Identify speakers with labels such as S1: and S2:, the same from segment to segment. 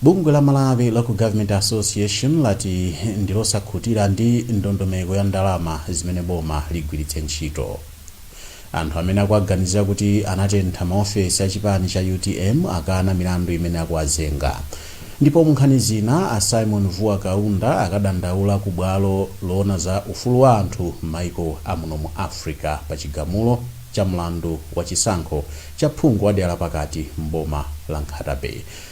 S1: Bungwe la Malawi Local Government Association lati ndilosakhutira ndi ndondomeko ya ndalama zimene boma ligwiritse ntchito. Anthu amene akuwaganizira kuti anatentha ma ofesi a chipani cha utm akana milandu imene akuwazenga. Ndipo mu nkhani zina, a Symon Vuwa Kaunda akadandaula ku bwalo loona za ufulu wa anthu m'maiko a muno mu Africa pa chigamulo cha mlandu wa chisankho cha phungu wa dera la pakati m'boma la Nkhata Bay.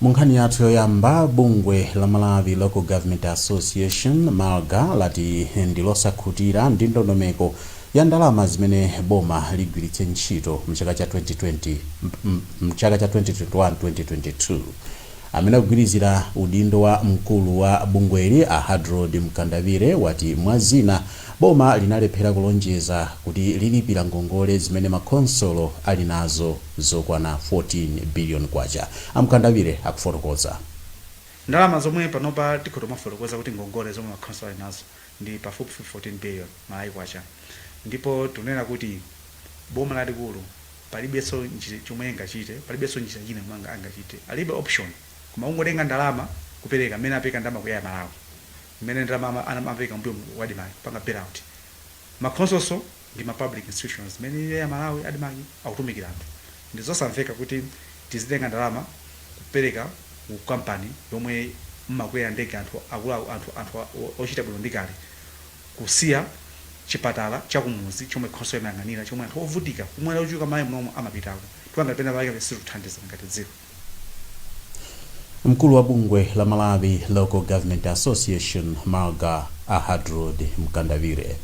S1: munkhani yathu yoyamba bungwe la malawi local government association malga lati ndilosakhutira ndi ndondomeko ya ndalama zimene boma ligwiritse ntchito mchaka cha 2020 mchaka cha 2021-2022 amene akugwirizira udindo wa mkulu wa bungweli a hadrod mkandawire wati mwa zina Boma linalephera kulonjeza kuti lilipira ngongole zimene ma khonsolo ali nazo zokwana 14 billion kwacha, a Mkandawire akufotokoza. Ndalama
S2: zomwe panopa tikhoza tumafotokoza kuti ngongole zomwe ma khonsolo ali nazo ndi pafupifupi 14 billion Malawi kwacha ndipo tikunena kuti boma lalikulu palibenso chomwe lingachite, palibenso njira ina yomwe angachite, alibe option koma kungotenga ndalama kupereka, mmene apeka ndalama ku Air Malawi. mmene ndalama amapeleka mbuyo mu ku admarc kupanga bailout ma khonsolonso ndi ma public institutions mmene ilili air malawi admarc akutumikila anthu ndizosamveka kuti tizitenga ndalama kupeleka ku company yomwe mmakwela ndege anthu ochita bwino ndi kale kusiya chipatala chakumudzi chomwe khonsolo imayang'anila chomwe anthu ovutika omwe ali ochuluka mmalawi munomo amapitako chifukwa ngati penapake sitikuthandiza ngati dziko.
S1: Mkulu wa bungwe la Malawi Local Government Association, Malga, a Hadrod Mkandawire.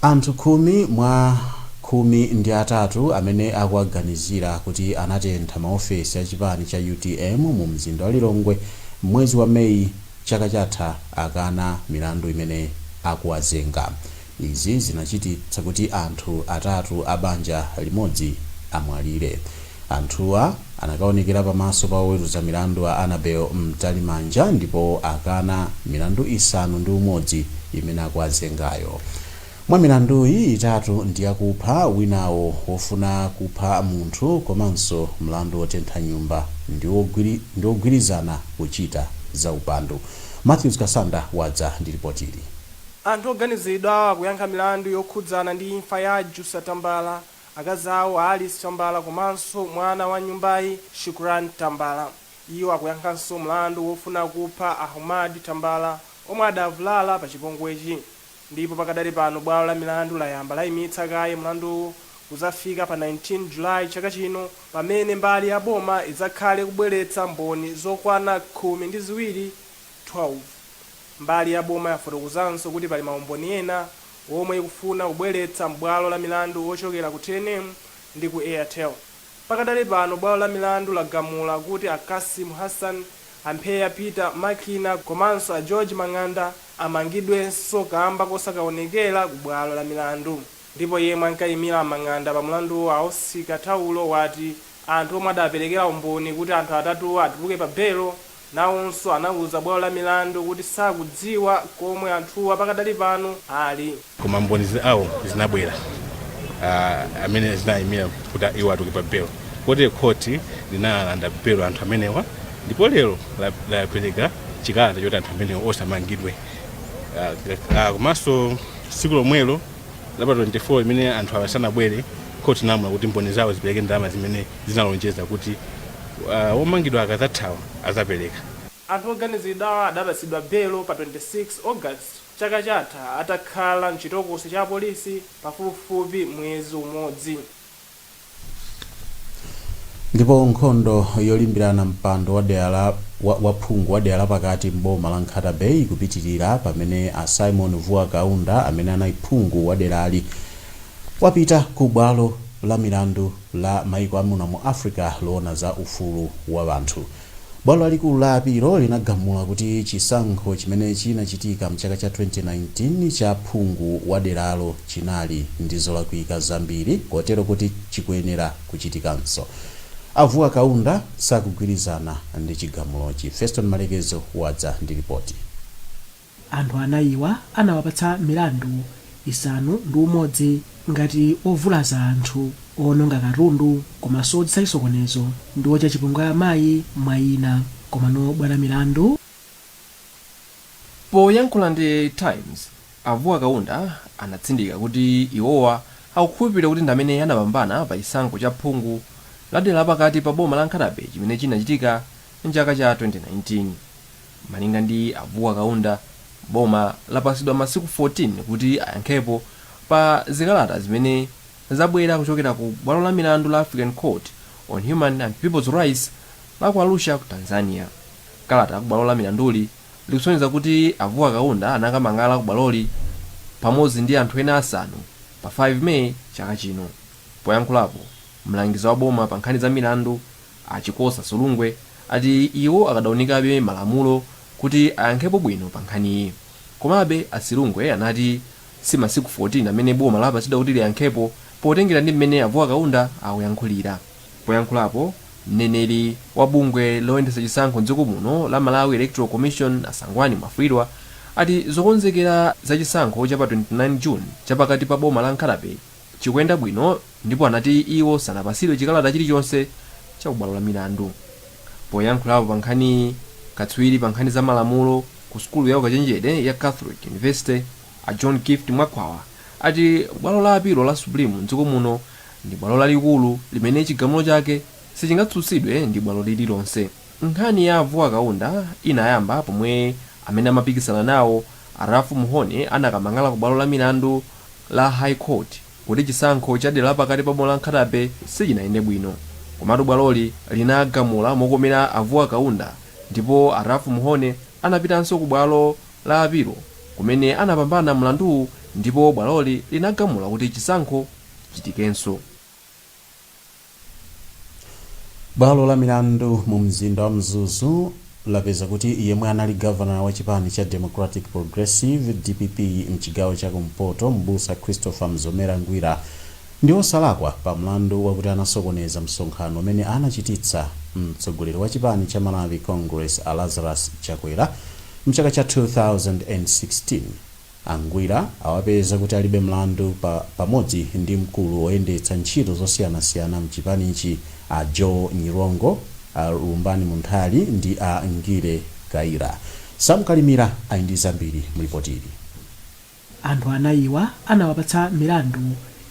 S1: Anthu khumi mwa khumi ndi atatu amene akuwaganizira kuti anatentha maofesi a chipani cha utm mu mzinda wa Lilongwe m'mwezi wa May chaka chatha akana milandu imene akuwazenga. Izi zinachititsa kuti anthu atatu a banja limodzi amwalire. Anthuwa anakaonekera pamaso pa oweruza milandu a Annabel Mtalimanja ndipo akana milandu isanu ndi umodzi imene akuwazengayo. Mwa milanduyi, itatu ndi yakupha, winawo wofuna kupha munthu komanso mlandu wotentha nyumba ndi wogwirizana kuchita zaupandu. Mathews Kasanda wadza ndi lipotili.
S3: Anthu oganiziridwawa akuyankha milandu yokhudzana ndi imfa ya a Jussa Tambala, akazi awo a Alice Tambala komanso mwana wa nyumbayi, Shukran Tambala. Iwo akuyankhanso mlandu wofuna kupha Ahmad Tambala omwe adavulala pa chipongwechi ndipo pakadali pano bwalo la milandu layamba laimitsa kaye mlanduwu kuzafika pa 19 July chaka chino pamene mbali ya boma idzakhale ikubweretsa mboni zokwana khumi ndi ziwiri 12. Mbali ya boma yafotokozanso kuti pali maumboni ena omwe ikufuna kubweretsa m'bwalo la milandu ochokera ku TNM ndi ku Airtel. Pakadali pano bwalo la milandu lagamula kuti a Cassim Hassan, a Mpheya Peter Makina komanso a George Mang'anda amangidwenso kamba kosakaonekera ku bwalo la milandu. Ndipo yemwe ankaimira Mang'anda pa mlanduwo a Oscar Taulo wati anthu omwe adaperekera umboni kuti anthu atatuwa atuluke pa belo nawonso anauza bwalo la milandu kuti sakudziwa komwe anthuwa pakadali pano ali. Koma mboni zawo
S4: zinabwera amene zinaimira kuti iwo atuluke pa belo kotero khoti linalanda belo anthu amenewa ndipo lero lapereka chikalata choti anthu amenewa onse amangidwe komanso tsiku lomwelo. la pa 24 imene anthu awa sanabwere khoti inalamula kuti mboni zawo zipereke ndalama zimene zinalonjeza kuti omangidwa akadzathawa adzapereka
S3: Anthu oganiziridwawa adapatsidwa belo pa 26 August chaka chatha atakhala mchitokosi cha apolisi pafupifupi mwezi umodzi.
S1: Ndipo nkhondo yolimbirana mpando wa phungu wa dera la pakati m'boma la Nkhata Bay ikupitirira pamene a Simon Vuwa Kaunda amene anali phungu wa derali wapita ku bwalo la milandu la maiko a muno mu Africa loona za ufulu wa anthu. Bwalo lalikulu la apilo linagamula kuti chisankho chimene chinachitika m'chaka cha 2019 cha phungu wa deralo chinali ndi zolakwika zambiri kotero kuti chikuyenera kuchitikanso. A Vuwa Kaunda sakugwirizana ndi chigamulochi. Feston Malekezo wadza ndi lipoti.
S5: Anthu anayiwa anawapatsa milandu isanu ndi umodzi ngati ovulaza anthu, oononga katundu komanso odzetsa chisokonezo ndi ochita chipongwe amayi mwa ina. Komano bwalo la milandu.
S6: Poyankhula ndi Times, a Vuwa Kaunda anatsindika kuti iwowa akukhulupirira kuti ndamene anapambana pa chisankho cha phungu la dera lapakati pa boma la Nkhata Bay chimene chinachitika mchaka cha 2019. Malinga ndi a Vuwa Kaunda, boma lapatsidwa masiku 14 kuti ayankhepo pa zikalata zimene zabwera kuchokera ku bwalo la milandu la African Court on Human and Peoples Rights la ku Arusha ku Tanzania. Kalata la ku bwalo la milanduli likusonyeza kuti a Vuwa Kaunda anakamang'ala ku bwaloli pamodzi ndi anthu ena asanu pa 5 May chaka chino. Poyankhulapo, mlangizi wa boma pa nkhani za milandu, A Chikosa Silungwe ati iwo akadaunikabe malamulo kuti ayankhepo bwino pa nkhaniyi. Komabe, a Silungwe anati si masiku 14 amene boma lapatsidwa kuti liyankhepo potengera ndi mmene a Vuwa Kaunda akuyankhulira. Poyankhulapo, mneneri wa bungwe loyendetsa chisankho m'dziko muno la Malawi Electoral Commission a Sangwani Mwafulirwa ati zokonzekera za chisankho cha pa 29 June chapakati pa boma la Nkhata-bay, chikuyenda bwino ndipo anati iwo sanapatsidwe chikalata chilichonse cha ku bwalo la milandu. Poyankhulapo pa nkhaniyi, katswiri pa nkhani za malamulo ku sukulu ya ukachenjede ya Catholic University a John Gift Mwakhwawa ati bwalo la apilo la Supreme m'dziko muno ndi bwalo lalikulu limene chigamulo chake sichingatsutsidwe ndi bwalo lililonse. Nkhani ya a Vuwa Kaunda inayamba pomwe amene amapikisana nawo a Ralph Mhone anakamang'ala ku bwalo la milandu la High Court kuti chisankho cha dera la pakati pa boma la Nkhata-Bay sichinayende bwino. Komatu bwaloli linagamula mokomera a Vuwa Kaunda ndipo a Ralph Mhone anapitanso ku bwalo la apilo kumene anapambana mlanduwu ndipo bwaloli linagamula kuti chisankho chichitikenso.
S1: Bwalo la milandu mu mzinda wa Mzuzu lapeza kuti yemwe anali gavanala wa chipani cha Democratic Progressive, DPP, mchigawo cha kumpoto m'busa Christopher Mzomera Ngwira ndi osalakwa pa mlandu wakuti anasokoneza msonkhano umene anachititsa mtsogoleri wa chipani cha Malawi Congress a Lazarus Chakwera mchaka cha 2016. A Ngwira awapeza kuti alibe mlandu pamodzi ndi mkulu woyendetsa ntchito zosiyanasiyana mchipanichi a Joe Nyirongo, a Lumbani Munthali ndi a Ngile Kayira. Sam Kalimira ali ndi zambiri mu
S5: lipotili. Anthu anayiwa anawapatsa milandu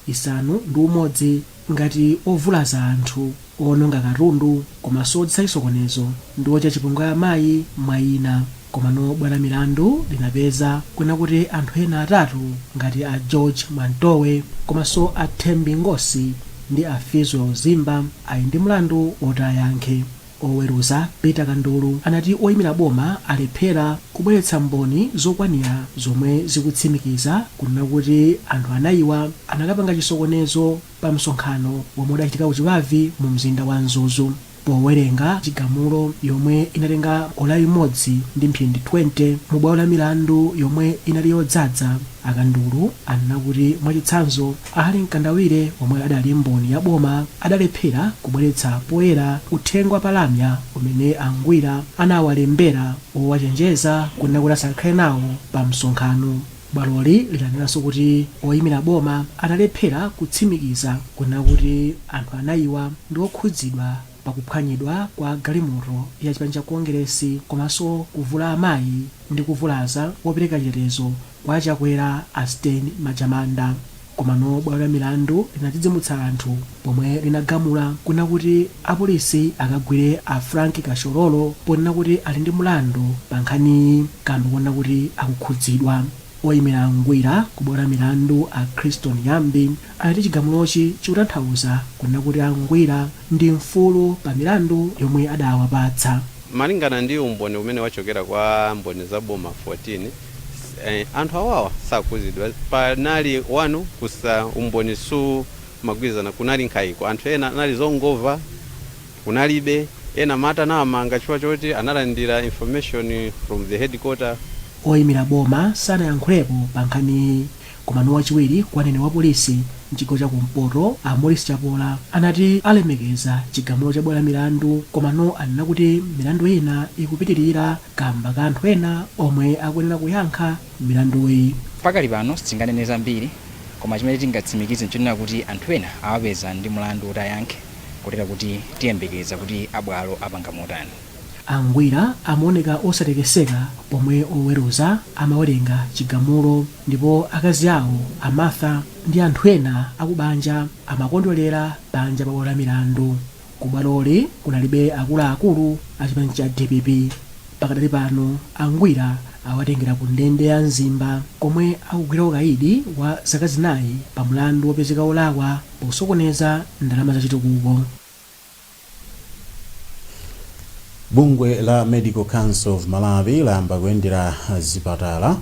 S5: isanu ndi umodzi. ngati ovulaza anthu, oononga katundu komanso odzetsa chisokonezo ndi ochita chipongwe amayi mwa ina komano bwalo la milandu linapeza kunena kuti anthu ena atatu ngati a George Mwantowe komanso a Thembi Ngosi ndi a Fizwell Zimba ali ndi mlandu oti ayankhe Oweruza Peter Kandulu anati oyimira boma alephera kubweretsa mboni zokwanira zomwe zikutsimikiza kunena kuti anthu anayiwa anakapanga chisokonezo pa msonkhano womwe udachitika ku Chibavi mu mzinda wa Mzuzu. Powerenga chigamulo chomwe inatenga ola limodzi ndi mphindi 20 mu bwalo la milandu yomwe inali yodzadza, a Kandulu anena kuti mwachitsanzo, A Harry Mkandawire omwe adali mboni ya boma adalephera kubweretsa poyera uthenga wa pa lamya umene a Ngwira anawalembera wowachenjeza kunena kuti asakakhale nawo pa msonkhano. Bwaloli lidanenanso kuti oyimira boma adalephera kutsimikiza kunena kuti anthu anayiwa ndi okhudzidwa pa kuphwanyidwa kwa galimoto ya chipani cha Kongeresi komanso kuvula amayi ndi kuvulaza wopereka chitetezo Kwa Chakwera a Stain Majamanda. Komano bwalo la milandu linadzidzimutsa anthu pomwe linagamula kunena kuti apolisi akagwire a Frank Kashorolo ponena kuti ali ndi mlandu pa nkhaniyi kamba kunena kuti akukhudzidwa. Oyimira a Ngwira ku bwalo la milandu a Christon Ghambi anati chigamulochi chikutanthauza kunena kuti a Ngwira ndi mfulu pa milandu yomwe adawapatsa. Malingana
S7: ndi umboni umene wachokera kwa mboni za boma 14, anthu awawa sakukhudzidwa panali wanu kusa umboni sumagwirizana kunali nkhaiko anthu ena anali zongomva kunalibe ena amati anawamanga chifukwa choti analandira information from the headquarter. Oyimira boma
S5: sanayankhulepo pa nkhaniyi Komano wachiwiri kwa mneneri wa polisi m'chigawo cha kumpoto a Maurice Chapola anati alemekeza chigamulo cha bwalo la milandu komano anena kuti milandu ina ikupitirira kamba ka anthu ena omwe akuyenera kuyankha milanduyi. Pakali pano
S8: sitinganene zambiri koma chimene tingatsimikize nchonena kuti anthu ena awapeza ndi mlandu woti ayankhe kotero kuti tiyembekeza kuti a bwalo apanga motani. A
S5: Ngwira amaoneka osatekeseka pomwe oweruza amawerenga chigamulo ndipo akazi awo, a Martha, ndi anthu ena akubanja amakondwelera panja pa bwalo la milandu. Ku bwaloli kunalibe akuluakulu a chipani cha dpp. Pakadali pano a Ngwira awatengera ku ndende ya Mzimba komwe akugwira ukaidi wa zaka zinayi pa mlandu wopezeka olakwa pakusokoneza ndalama za chitukuko.
S1: Bungwe la Medical Council of Malawi layamba kuyendera zipatala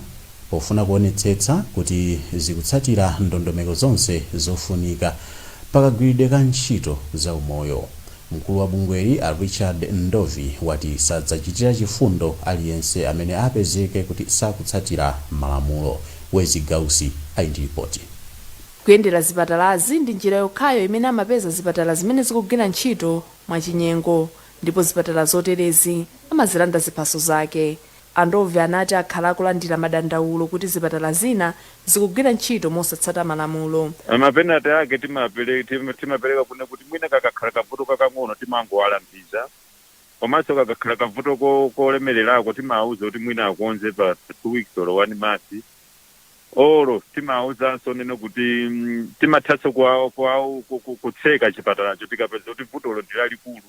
S1: pofuna kuonetsetsa kuti zikutsatira ndondomeko zonse zofunika pa kagwiridwe ka ntchito za umoyo. Mkulu wa bungweli a Richard Ndovi wati sadzachitira chifundo aliyense amene apezeke kuti sakutsatira malamulo. Wezzie Gausi ali ndi lipoti.
S9: Kuyendera zipatalazi ndi njira yokhayo imene amapeza zipatala zimene zikugwira ntchito mwachinyengo ndipo zipatala zoterezi amazilanda ziphaso zake. A Ndove anati akhala akulandira madandaulo kuti zipatala zina zikugwira ntchito mosatsata malamulo. Mapenate
S10: ake timapereka kunena kuti mwina kakakhala kavuto kakang'ono timangowalangiza komanso kakakhala kavuto kolemererako timawauza kuti mwina akonze pa two weeks or one month. oro timawuzanso kunena kuti mm, timathanso kwa- kwa- ku- ku- kutseka chipatalacho tikapeza kuti vutolo ndi lalikulu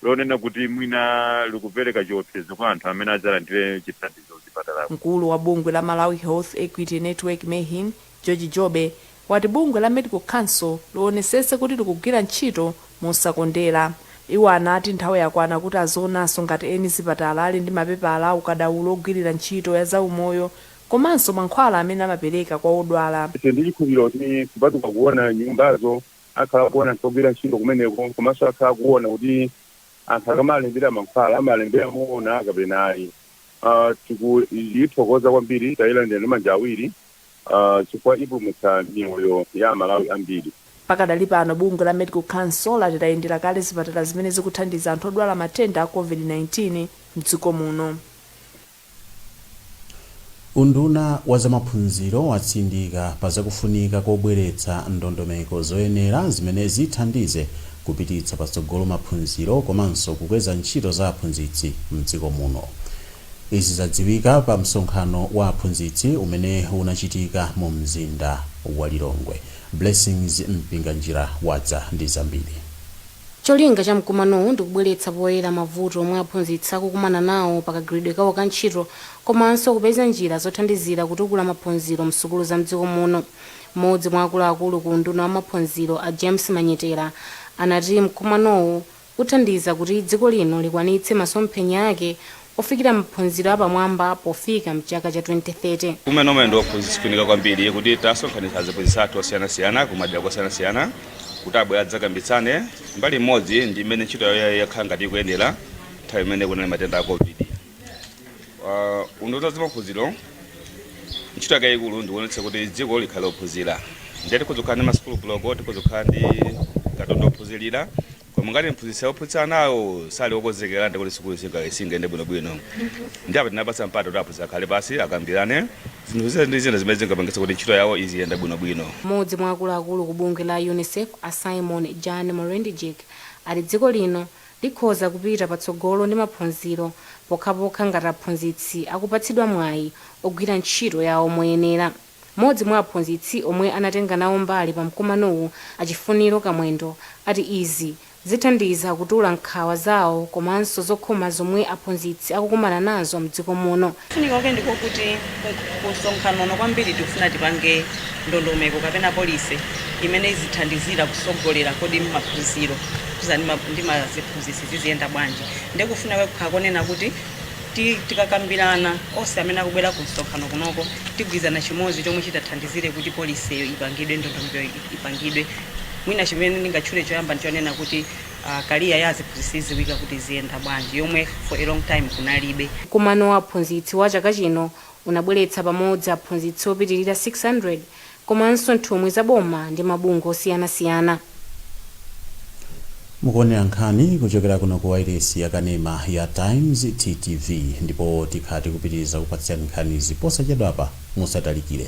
S10: lonena kuti mwina likupereka chiopsezo kwa anthu amene adzalandire chithandizo chipatalacho mkulu wa bungwe la
S9: malawi health equity network mehin george jobe wati bungwe la Medical Council lionesese kuti likugwira ntchito mosakondera. Iwo anati nthawi yakwana kuti azionanso ngati eni zipatala ali ndi mapepala a ukadaulo ogwirira ntchito ya zaumoyo komanso mankhwala amene amapereka kwa odwala. Tili ndi chikhulupiliro
S10: kuti kupatuka kuona nyumbazo, akhala akuona anthu ogwira ntchito kumeneko komanso akhala akuona kuti anthu akamalembera mankhwala amalembera moona kapena ayi. Tikuithokoza kwambiri, tailandira ndi manja awiri. aah chifukwa ipulumutsa miyoyo ya amalawi ambiri. Pakadali pano
S9: bungwe la Medical Council lati layendera kale zipatala zimene zikuthandiza anthu odwala matenda a Covid-19 mdziko muno.
S1: Unduna wa zamaphunziro watsindika pa zakufunika kobweretsa ndondomeko zoyenera zimene zithandize kupititsa patsogolo maphunziro komanso kukweza ntchito za aphunzitsi mdziko muno. Izi zadziwika pa msonkhano wa aphunzitsi umene unachitika mu mzinda wa Lilongwe. Blessings Mpinganjira wadza ndi zambiri. Cholinga
S11: cha mkumanowu ndi kubweretsa poyera mavuto omwe aphunzitsi akukumana nawo pa kagwiridwe kawo ka ntchito komanso kupeza njira zothandizira kutukula maphunziro msukulu za mdziko muno. Mmodzi mwa akuluakulu ku unduna wa maphunziro a James Manyetera anati mkumanowu. uthandiza kuti dziko lino likwanitse masomphenya ake ofikira maphunziro apamwamba pofika mchaka cha 2030. Kumene nomwe ndi aphunzitsi
S12: kufunika kwambiri kuti tasonkhanitsa aziphunzitsi athu osiyanasiyana kumadera kosiyanasiyana kuti abwere adzakambitsane mbali imodzi ndi mmene ntchito yawo yakhala ngati ikuyendera nthawi imene kunali matenda a Covid. Uh, unduna wa zamaphunziro ntchito yake yayikulu ndikuonetsa kuti dziko likhale lophunzira ndiye tikhoza kukhala ndi masukulu block tikhoza kukhala ndi katundu ophunzirira koma ngati mphunzitsi ophunzitsa anawo sali okonzekera ndi kuti sukulu singa- singayende bwinobwino ndiye apa tinapasa mpata kuti aphunzitsi akhale pasi akambirane zinthu zina ndi zina zimene zingapangitsa kuti ntchito yawo iziyenda bwinobwino mmodzi mwa akuluakulu
S11: ku bungwe la unicef a simon jan Molendijk ati dziko lino Likhoza kupita patsogolo ndi maphunziro pokhapokha ngati aphunzitsi akupatsidwa mwayi ogwira ntchito yawo moyenera. Mmodzi mwa aphunzitsi omwe anatenga nawo mbali pa mkumanowu a Chifuniro Kamwendo ati izi zithandiza kutula nkhawa zawo komanso zokhoma zomwe aphunzitsi akukumana nazo mdziko muno. Kufunika kwake ndi ko
S13: kuti ku msonkhano uno kwambiri tikufuna tipange ndondomeko kapena policy imene izithandizira kusogolera kodi maphunziro khuza ndi maziphunzitsi ziziyenda bwanji nde kufuna kwake n'konena kuti tikakambirana onse amene akubwera ku msonkhano kunoko tigwirizana chimodzi chomwe chitathandizire kuti policy iyo ipangidwe ndondomekoyo ipangidwe mwina chimene ndingatchule choyamba ndichonena kuti career ya aziphunzitsi iziwika kuti iziyenda bwanji yomwe for a long time kunalibe. Mkumano wa
S11: aphunzitsi wa chaka chino unabweretsa pamodzi aphunzitsi opitilira 600 komanso nthumwi za boma ndi mabungwe
S1: osiyanasiyana. Mukuonera nkhani kuchokera kuno ku wailesi ya kanema ya Times, TTV, ndipo tikhala tikupitiriza kukupatsirani nkhanizi posachedwapa. Musatalikire.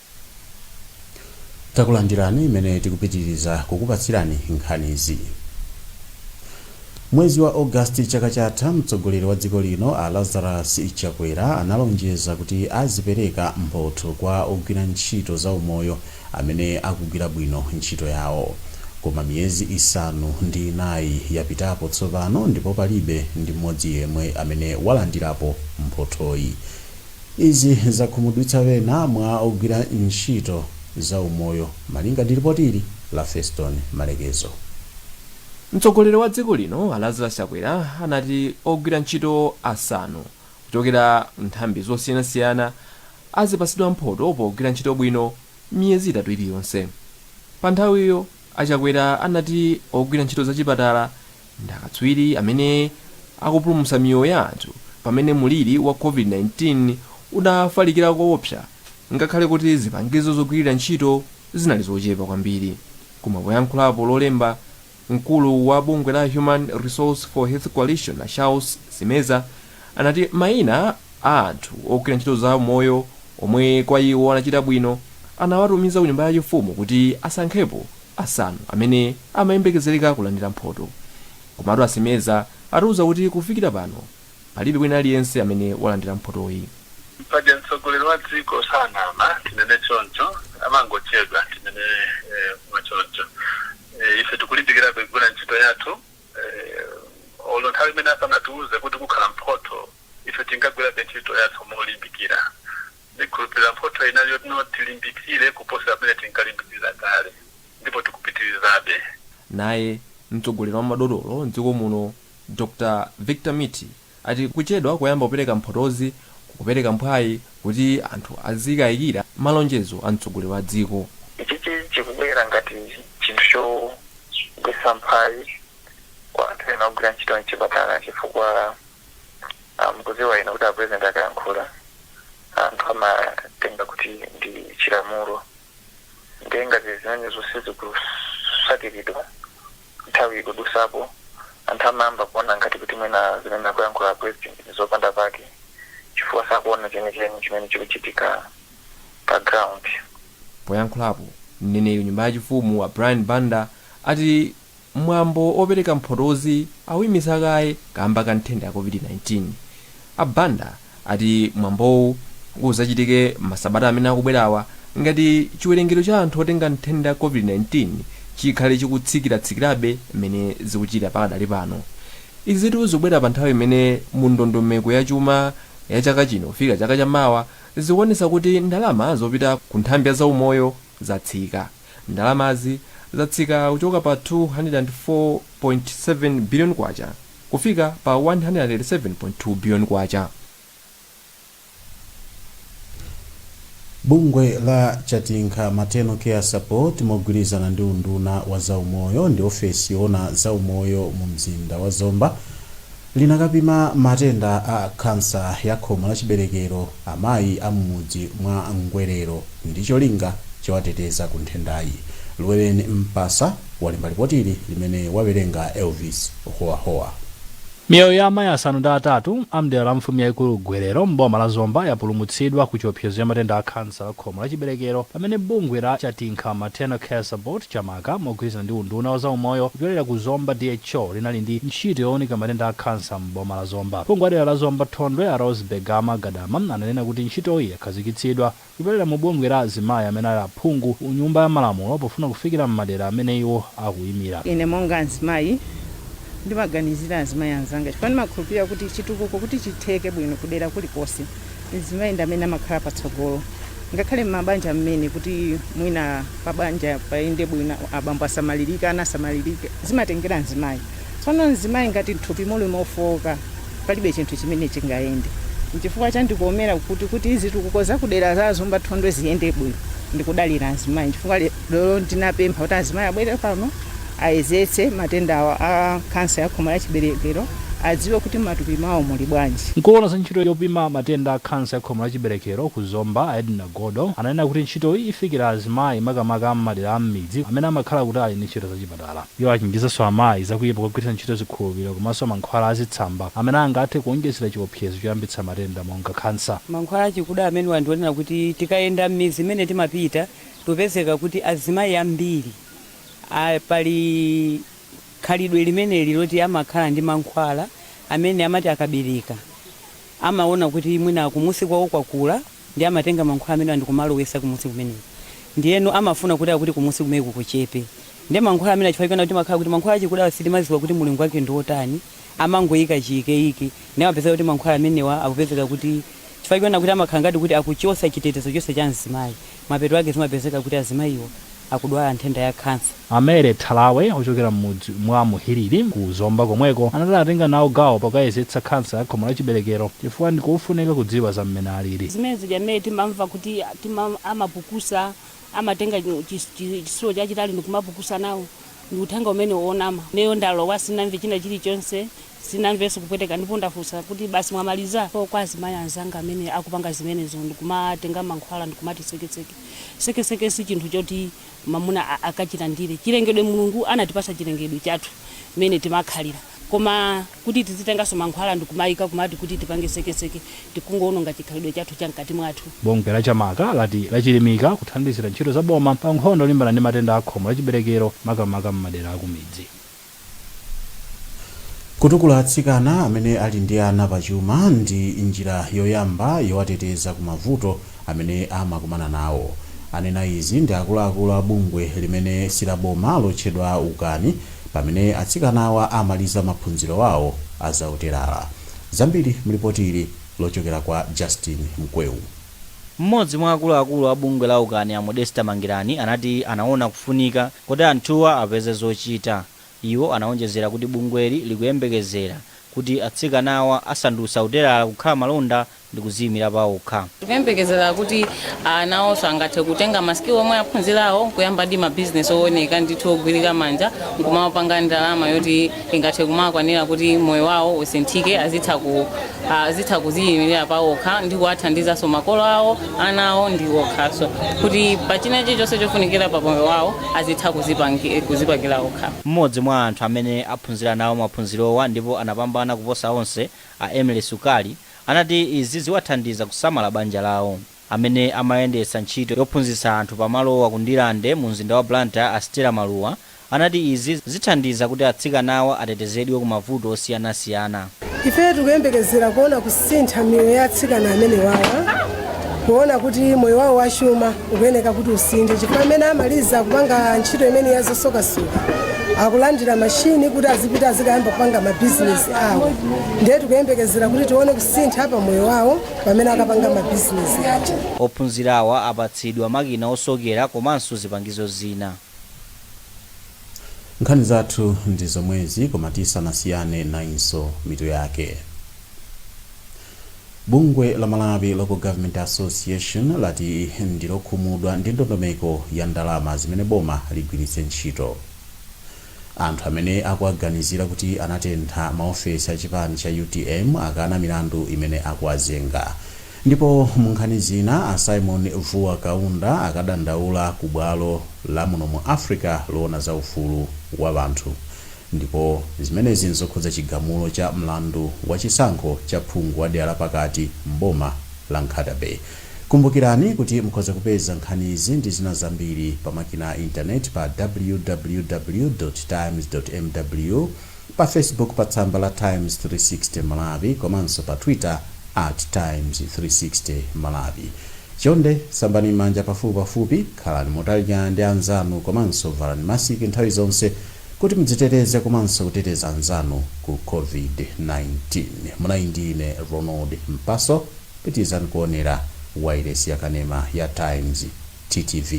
S1: takulandirani imene tikupitiriza kukupatsirani nkhanizi mwezi wa ogasti chaka chatha mtsogoleri wa dziko lino a lazarus chakwera analonjeza kuti azipereka mphotho kwa ogwira ntchito za umoyo amene akugwira bwino ntchito yawo koma miyezi isanu ndi inayi yapitapo tsopano ndipo palibe ndi mmodzi yemwe amene walandirapo mphothoyi Izi zakhumudwitsa wena mwa ogwira ntchito za umoyo, malinga ndi lipotili la Feston Malekezo.
S6: Mtsogoleri wa dziko lino a Lazarus Chakwera anati ogwira ntchito asanu kuchokera nthambi zosiyanasiyana azipatsidwa mphoto pogwira ntchito bwino miyezi itatu iliyonse. Panthawiyo, a Chakwera anati ogwira ntchito zachipatala Ndi akatswiri amene akupulumutsa miyoyo ya anthu pamene mliri wa COVID-19 unafalikira koopsa, ngakhale kuti zipangizo zogwirira ntchito zinali zochepa kwambiri. Koma poyankhulapo Lolemba, mkulu wa bungwe la Human Resource for Health Coalition a Shouts Simeza anati maina a anthu ogwira ntchito za umoyo omwe kwa iwo anachita bwino anawatumiza ku nyumba ya chifumu kuti asankhepo asanu amene amayembekezereka kulandira mphoto komatu a Simeza atiuza kuti kufikira pano palibe wina aliyense amene walandira mphotoyi. Paja
S14: mtsogoleri wa dziko sanama, tinene choncho, amangochedwa, tinene mwachoncho. Ife tikulimbikirabe kugwira ntchito yathu. Eeeh, olo nthawi imene asanatiuze kuti kukhala mphotho, ife tinkagwirabe ntchito yathu molimbikira. Ndikhulupirira mphotho inali yonena tilimbikire kuposera mmene tinkalimbikirira kale, ndipo tikupitirizabe.
S6: Naye mtsogoleri wa madotolo m'dziko muno Dr Victor Mithi ati kuchedwa kuyamba kupereka mphotozi kukupereka mphwayi kuti anthu azikayikira malonjezo a mtsogoleri wa dziko. Ichichi chikubwera
S15: ngati chinthu chogwetsa mphwayi kwa anthu ena ogwira ntchito mchipatala chifukwa mukudziwa inu kuti a President akayankhula anthu amatenga kuti ndi chilamulo. ndiye ngati zimenezo sizikutsatiridwa nthawi ikudusapo anthu amayamba kuona ngati kuti mwina zimene akuyankhula president ndi zopanda pake chifukwa sakuona chenicheni chimene chikuchitika pa ground. Poyankhulapo,
S6: mneneri wa nyumba yachifumu a Brian Banda ati mwambo opereka mphotozi awuimitsa kaye kamba ka nthenda ya Covid-19. A Banda ati mwambowu uzachitike masabata amene akubwerawa ngati chiwerengero cha anthu otenga nthenda ya Covid-19 chikhale chikutsikiratsikirabe mmene zikuchitira pakadali pano. Izitu zikubwera pa nthawi imene mu ndondomeko ya chuma ya chaka chino kufika chaka cha mawa zikuonetsa kuti ndalama zopita ku nthambi ya zaumoyo zatsika. Ndalamazi zatsika kuchoka pa K204.7 biliyoni kufika pa K187.2 biliyoni.
S1: Bungwe la Chatinkha Maternal Care Support mogwirizana ndi unduna wa zaumoyo ndi ofesi yoona zaumoyo mu mzinda wa Zomba, Linakapima matenda a khansa ya khomo la chiberekero amayi a m'mudzi mwa Ngwerero ndi cholinga chowateteza ku nthendayi. Luweleni Mpasa walemba lipotili limene wawerenga Elvis Howahowa.
S16: Miyoyo ya amayi asanu ndi atatu a m'dera la mfumu yaikulu Ngwerero m'boma la Zomba yapulumutsidwa ku chiopsezo cha matenda a khansa la khomo la chiberekero pamene bungwe la Chatinkha Maternal Care Support cha. maka mogwirizana ndi unduna wa zaumoyo kupyolera ku Zomba DHO linali ndi ntchito yowunika matenda a khansa m'boma la Zomba. Phungu wa dera la Zomba Thondwe a Roseby Gama Gadama ananena kuti ntchitoyi yakhazikitsidwa kupyolera mu bungwe la azimayi amene ali aphungu ku nyumba ya malamulo pofuna kufikira m'madera amene iwo akuyimira. Ine monga
S17: mzimayi ndimaganizira azimayi anzanga chifukwa ndimakhulupirira kuti chitukuko kuti chitheke bwino kudera kulikonse, mzimayi ndi amene amakhala patsogolo ngakhale m'mabanja mmene kuti mwina pabanja payende bwino abambo asamalirike ana asamalirike zimatengera mzimayi tsono mzimayi ngati mthupi muli mofowoka palibe chinthu chimene chingayende nchifukwa chandikomera kuti kuti zitukuko zakudera za Zomba Thondwe ziyende bwino ndikudalira mzimayi nchifukwa Lero ndinapempha kuti azimayi abwere pano ayezetse matenda awa a khansa ya khomo la chiberekero adziwe kuti matupi mwawo muli bwanji. Mkulu woona za ntchito yopima
S16: matenda a khansa ya khomo la chiberekero ku Zomba a Edna Godo ananena kuti ntchitoyi ifikira azimayi makamaka a m'madera a m'midzi amene amakhala kutali ndi ntchito za chipatala. Iwo achenjezanso amayi za kuipa kogwiritsa ntchito zikhulupiriro komanso mankhwala a zitsamba amene angathe kuonjezera chiopsezo choyambitsa matenda monga khansa. Mankhwala achikuda
S18: amenewa ndi onena kuti tikayenda m'midzi imene timapita, timapezeka kuti azimayi ambiri pali khalidwe limeneli loti amakhala ndi mankhwala amene amati akabereka amaona kuti mwina kumusi kwawo kwakula ndi amatenga mankhwala amenewa ndikumalowesa kumusi kumeneko ndiyeno amafuna kuti akuti kumusi kumeneko kuchepe ndiye mankhwala amenewa chifukwa choona kuti amakhala kuti mankhwala achikudawa sitimaziwa kuti mulingo wake ndi otani amangoika chiikeike ndiye amapezeka kuti mankhwala amenewa akupezeka kuti chifukwa choona kuti amakhala ngati kuti akuchotsa chitetezo chonse cha mzimayi mapeto ake zimapezeka kuti azimayiwo akudwala nthenda ya khansa. A Mary Thalawe
S16: ochokera m'mudzi mwa Muhiriri ku Zomba komweko anati anatenga nawo gawo pokayezetsa khansa ya khomo la chiberekero chifukwa ndi kofunika kudziwa za mmene alili. Zimene zija mmene timamva
S19: kuti amapukusa, amatenga chisulo chachitali ndi kumapukusa nawo, Ndi uthenga umenewo wonama. Ineyo ndalowa, sinamve china chilichonse, sinamvenso kupweteka ndipo ndafunsa kuti, Basi mwamaliza? Ndipo kwa azimayi anzanga amene akupanga zimenezo ndi kumatenga mankhwala ndi kumati sekeseke, sekeseke si chinthu choti mamuna akachilandire. Chilengedwe Mulungu anatipasa chilengedwe chathu mmene timakhalira. Koma kuti tizitenganso mankhwala ndikumaika kumati kuti tipange sekeseke tikungoononga chikhalidwe chathu cha mkati mwathu. Bungwe la Chamaka
S16: lati lachilimika kuthandizira ntchito za boma pa nkhondo yolimbana ndi matenda a khomo la chiberekero makamaka m'madera akumidzi.
S1: Kutukula atsikana amene ali ndi ana pachuma ndi njira yoyamba yowateteza ku mavuto. amene amakumana nawo. Anena izi ndi akuluakulu a bungwe limene silaboma lotchedwa Ukani pamene atsikanawa amaliza maphunziro awo a za utelala. Zambiri mlipoti ili lochokera kwa Justin Mkweu.
S20: M'modzi mwa akuluakulu a bungwe la Ukani a Modester Mangirani anati anaona kufunika kuti anthuwa apeze zochita. Iwo anaonjezera kuti bungweli likuyembekezera kuti atsikanawa asandutsa utelala kukhala malonda ndi kuziimira paokha. Tikuyembekezera
S2: kuti nawonso angathe kutenga ma skill omwe aphunzirawo nkuyambadi ma business owoneka ndithu ogwirika manja nkumapanga ndalama yoti ingathe kumakwanira kuti moyo wawo usinthike azitha ku azitha kuziimilira paokha ndi kuwathandizanso makolo awo, ana awo ndi okhaso kuti pa china chilichonse chofunikira pa moyo wawo azitha kuzipangi kuzipangira okha. Mmodzi mwa anthu
S20: amene aphunzira nawo maphunzirowa ndipo anapambana kuposa onse, a Emily Sukali, anati izi ziwathandiza kusamala banja lawo. Amene amayendetsa ntchito yophunzitsa anthu pa malowa ku Ndirande mu mzinda wa Blantyre a Stella Maluwa anati izi zithandiza kuti atsikanawa atetezedwe ku mavuto osiyanasiyana. Ife
S4: tikuyembekezera kuona kusintha miyoyo ya atsikana amenewawa kuona kuti moyo wawo wachuma ukuyeneka kuti usinthe chifukwa amene amaliza kupanga ntchito imene yazosokasoka akulandira mashini kuti azipita azikayamba kupanga mabizinesi awo ndiye tikuyembekezera kuti tione kusintha pa moyo wawo pamene akapanga mabizinesi aja
S20: Ophunzirawa apatsidwa makina osokera komanso zipangizo
S1: zina. nkhani zathu ndi zomwezi koma tisanasiyane nayinso mitu yake Bungwe la Malawi Local Government Association lati ndilokhumudwa ndi ndondomeko ya ndalama zimene boma ligwiritse ntchito. Anthu amene akuwaganizira kuti anatentha ma ofesi a chipani cha utm akana milandu imene akuwazenga. Ndipo mu nkhani zina, a Symon Vuwa Kaunda akadandaula ku bwalo la muno mu Africa loona za ufulu wa anthu. ndipo zimenezi n'zokhudza chigamulo cha mlandu wa chisankho cha phungu wa dera la pakati m'boma la Nkhata Bay. Kumbukirani kuti mukhoza kupeza nkhanizi ndi zina zambiri pa makina a intaneti pa www. Times. mw, pa Facebook pa tsamba la Times 360 Malawi komanso pa Twitter at Times 360 Malawi. Chonde sambani m'manja pafupipafupi, khalani motalikirana ndi anzanu komanso valani masiki nthawi zonse. Kuti mudziteteze komanso kuteteza anzanu ku COVID-19, munali ndi ine Ronald Mpaso. Pitirizani kuonera wailesi yakanema ya Times, TTV.